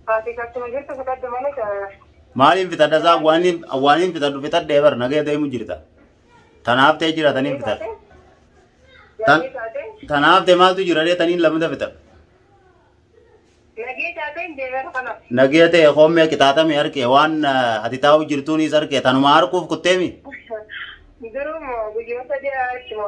Ati akkuma jirtu fixadhu malee ka- Maaliin fixadha isaa waaniin waaniin fixadhu fixadhee bar nagee deemu jirta. Tanaaf ta'e jira taniin fixadha. Tan- Nagee taatee Tanaaf ta'e maaltu jira dee taniin lamada fixadha. nagee taateen deemeera kanaaf. Nagee ta'e hoomee qixaaxame harkee waan ah, ati taa'u jirtuunis harkee tanuma harkuuf kutteemi. Duruma guyyoota dhiyaa achuma.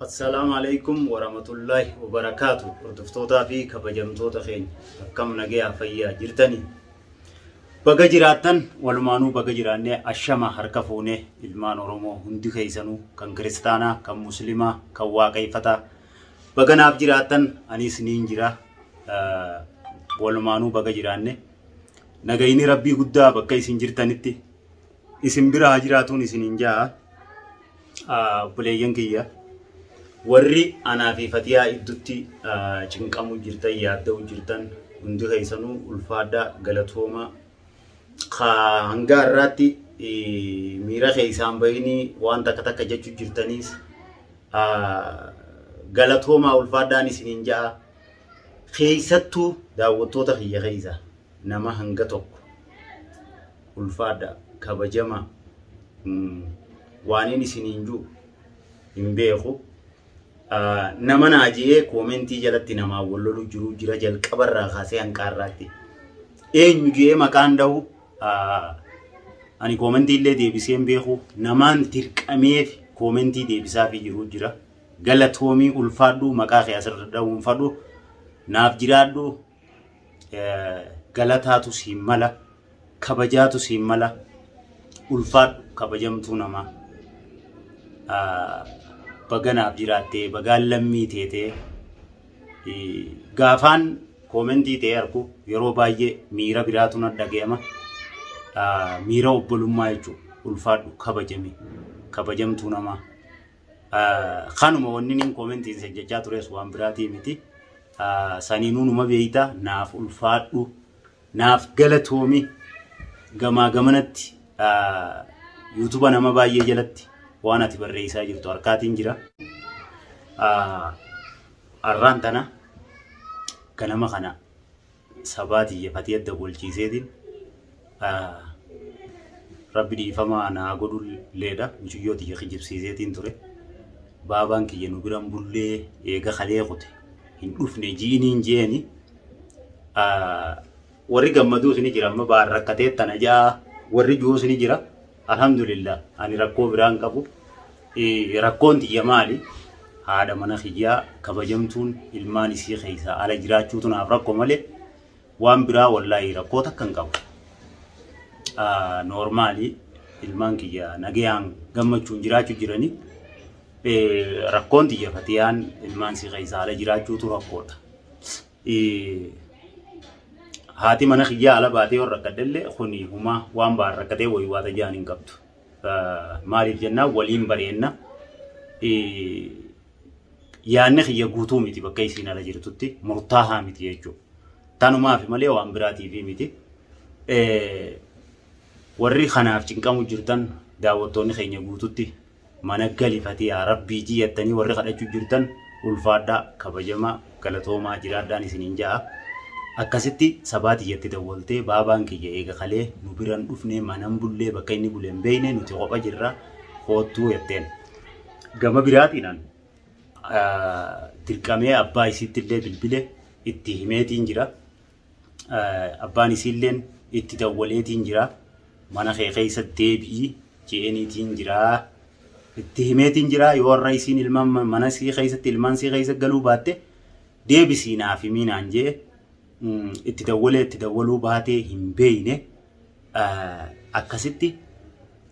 Assalaamu alaikum warahmatullahi wabarakaatu hordoftootaa fi kabajamtoota keenya akkam nagayaa fayyaa jirtanii baga jiraattan walumaanuu baga jiraannee ashama harka fuunee ilmaan oromoo hundi keessanuu kan kiristaanaa kan muslimaa kan waaqayfataa baga naaf jiraattan anis niin jira Ah, walumaanuu baga jiraanne nagayni rabbii guddaa bakka isin jirtanitti isin bira haa jiraatuun isiniin ja'a obboleeyyan kiyya warri anaa fi fatiyaa iddutti cinqamu jirtan yaadda'u jirtan hundi keessanuu ulfaadhaa galatooma ka hanga har'aatti miira keessaan bahini waan takka takka jechuu jirtaniis galatoomaa ulfaadhaan isiniin ja'a keessattuu daawwattoota kiyya keessa nama hanga tokko ulfaadha kabajama waanin isiniin jiru hin beeku. Nama naa jee koomentii jalatti namaa wal lolu jiru jira jalqabarraa kaasee hanqaarraatti. Eenyu jee maqaan dhahu ani koomentii illee deebisee hin beeku. Namaan dirqameef koomentii deebisaafii jiru jira. Galatoomii ulfaadhu maqaa kee asirra dhahuun fadhu naaf jiraadhu galataatu siin mala kabajaatu siin mala ulfaadhu kabajamtuu namaa baganaaf jiraattee bagaan lammii teetee gaafaan koomentii ta'ee argu yeroo baay'ee miira biraatu na dhaga'ama miira obbolummaa jechuudha ulfaadhu kabajame kabajamtuu namaa. Kanuma wanni niin koomentiin sin jechaa tures waan biraatii miti. Saniinuu numa beeyta naaf ulfaadhu naaf galatoomi gamaa gamanatti yuutuba nama baay'ee jalatti waan ati barreessaa jirtu harkaatiin jira. Arraan tana ganama kana sabaa tiyya katii adda golchiiseetiin rabbi dhiifama naa godhu leedha mucuyyoo tiyya kijibsiiseetiin ture baabaan kiyya nu biran bullee eega kalee kute hin dhufne ji'iniin jeeni warri gammaduu sini jira amma baar rakkateettana ja'a warri ji'uus ni jira. Alhamdulillah ani rakkoo biraa hin qabu. Rakkoon tiyya maali? Haadha mana kiyyaa kabajamtuun ilmaan isii keessaa ala jiraachuutu naaf rakko malee waan biraa wallaahi rakkoo takka hin qabu. Noormaali ilmaan kiyya nagayaan gammachuun jiraachuu jiranii rakkoon tiyya fatiyaan ilmaan isii keessaa ala jiraachuutu rakkoodha. haati mana kiyyaa ala baatee yoo rakkadhellee kuni humaa waan ba'an rakkatee wayii waata ja'an hin qabdu. Maaliif jennaan waliin bareenna. Yaanni kiyya guutuu miti bakka isiin ala jirtutti murtaahaa miti jechuudha. Tanumaaf malee waan biraatiif miti. Warri kanaaf cinqamu jirtan daawwattoonni keenya guututti mana gali fatiyaa rabbii ijii yattanii warri kadhachu jirtan ulfaadhaa kabajamaa galatoomaa jiraadhaan isinin ja'a akkasitti sabaa tiyyatti dawwaltee baabaan kiyya eega kalee nu biran dhufnee manan bullee bakka inni bulen beeyne nuti kopha jirra koottuu yatteen gama biraatiinan dirqamee abbaa isiitti illee bilbile itti himeetiin jira abbaan isiilleen itti dawwaleetiin jira mana kee keessa deebi'i je'eeniitiin jira itti himeetiin jira yoo warra isiin ilmaan mana sii keessatti ilmaan sii keessa galuu baatte deebisii naaf himii naan jee itti dawwalee itti dawwaluu baatee hin beeyne akkasitti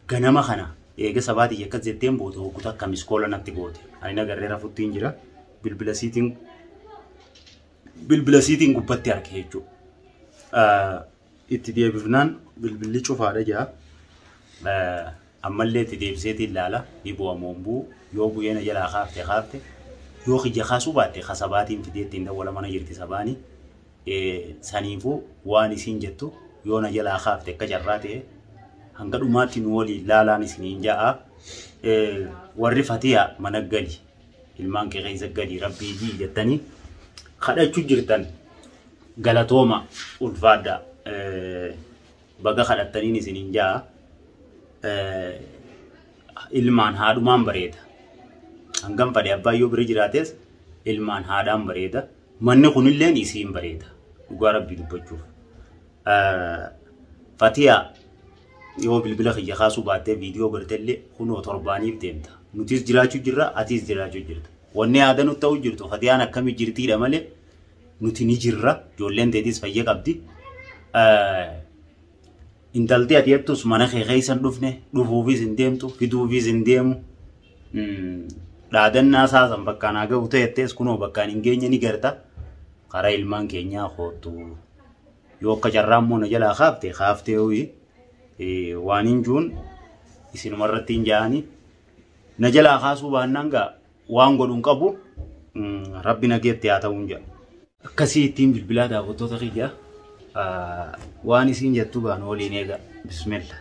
ganama kana eega sabaatii akkas jetteen booda hogguta akka miskoola natti goote ani nagarree rafuttiin jira bilbila siitiin bilbila siitiin gubbatti arge jechuudha. Itti deebifnaan bilbilli cufaadha jira. Ammallee itti deebiseetiin ilaala ni bu'a moo hin bu'u yoo bu'ee na jalaa kaafte kaafte yoo kiyya kaasuu baatte ka sabaatiin fidee ittiin dawwala mana jirti sabaani. Saniifuu waan isiin jettu yoo na jalaa kaafte akka carraa ta'e hanga dhumaatti nu waliin laalaan isiniin ja'a. Warri fatiyaa mana gali ilmaan kee keessa gadi rabbii jii jettanii kadhachuu jirtan galatooma ulfaadha baga kadhattaniin isin hin jaa ilmaan haadhumaan bareeda hangam fadhe abbaa yoo bira jiraates ilmaan haadhaan bareeda manni kunilleen isiin bareeda dhugaa rabbii dubbachuuf Fatiyaa yoo bilbila kiyya kaasuu baattee viidiyoo gartellee kunoo torbaaniif deemta. Nutis jiraachuu jirra, atis jiraachuu jirta. Wanni aadaa nutti ta'uu jirtu Fatiyaan akkamii jirtiidha malee nuti ni jirra. Ijoolleen teetis fayya qabdi. Intalti ati jettus mana kee keessa hin dhufne, dhufuufis hin deemtu, fiduufis hin deemu. Dhaadannaa isaa san bakka naa gahu ta'ettees kunoo bakkaan hin geenye ni garta. Karaa ilmaan keenyaa koottu. Yoo akka carraa immoo na jalaa kaafte kaaftee ho'i waan hin juun isinuma irratti hin ja'anii na jalaa kaasuu baannaan gaa waan godhu hin qabu rabbi nageetti haa ta'uun jedha. Akkasii ittiin bilbilaa daawwattoota kiyya waan isiin jettu gaa nu waliin eega bismillah.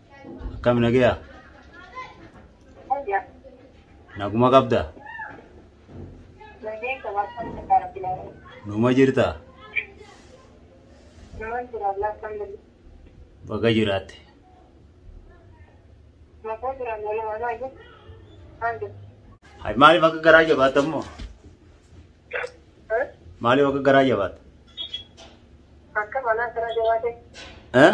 Akkam nagaya? Naguma qabda? Numa jirta? Baga jiraatte. Hay maaliif akka garaa jabaatta immoo? Maaliif akka garaa jabaatta? Eh?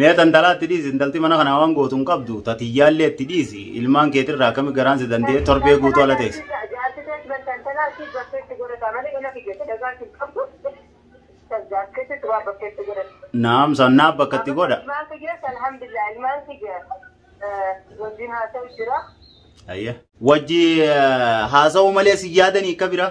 Mee tantalaa itti dhiisi intalti mana kana waan gootu hin qabdu tatiyyaallee itti dhiisi ilmaan keetirraa akkami garaan si danda'e torbee guutuu ala teessi. Naam sannaa bakka itti godha. Ayya. Wajji haasa'uu malee si yaadanii akka biraa.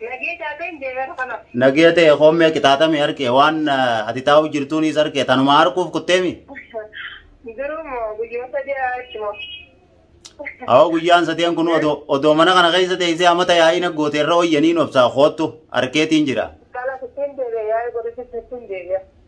Nagee taatee hin deemeera kanaaf. Nagee ta'e hoomee qixaaxamee harkee waan eh, ati taa'uu jirtuunis harkee tanuma harkuuf kutteemi. Duruu moo guyyuma sadii achuma. Awoo guyyaan sadeen kun odoo odoo mana kana keessa teessee amata yaa'iin aggoote irra hoyyanii nobsaa koottu harkeetiin jira. Kanaaf ittiin deebi'a yaa'ii godhutti ittiin deebi'a.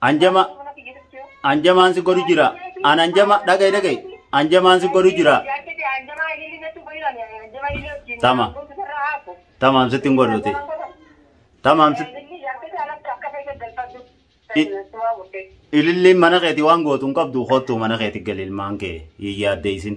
Anjama anjamaan si godhu jira. An anjama dhaga'i dhaga'i. Anjamaan si godhu jira. Tama. Tamaam sitti hin godhuuti. Tamaam sitti. Ililliin mana keeti waan gootu hin qabdu kottu mana keeti gali ilmaan kee hin yaaddeessin.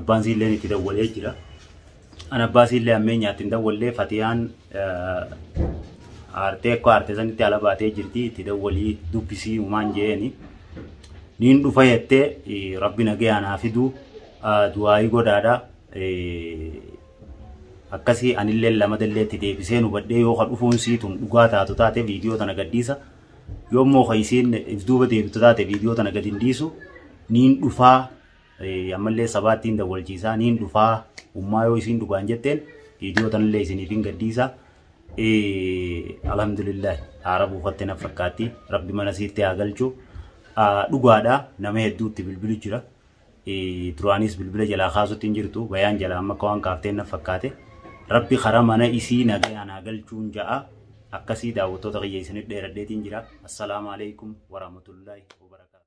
Abbaan siilleen itti dawwalee jira. An abbaa siillee ammeenyaatti hin dawwallee Fatiyaan aartee akka aartee sanitti ala baatee jirti itti dawwalii dubbisii uumaan jeeni. Niin dhufa jettee rabbi nagayaan haa fiduu du'aayii godhaadha. Akkasii anillee lamadallee itti deebisee nu badhee yoo ka dhufuun siitun dhugaa taatu taate viidiyoo tana gadhiisa. Yoo immoo ka isiin if duuba deebitu taate viidiyoo tana gad hin dhiisu niin dhufaa. Ammallee sabaattiin dawwalchiisaa niin dhufaa ummaa yoo isiin dhugaan jetteen viidiyoo tanallee isiniif hin gadhiisa. Alhamdulillahi haara buufatte na fakkaatti rabbi mana siitti haa galchu. Dhugaadha nama hedduutti bilbilu jira. Duraanis bilbila jalaa kaasutti hin jirtu bayaan jalaa amma akka waan kaafteen na fakkaate. Rabbi karaa mana isii nagayaan haa galchuun ja'a. Akkasii daawwattoota kiyya isinitti dheeradheetiin jira. Assalaamu alaikum warahmatullahi wabarakatuh.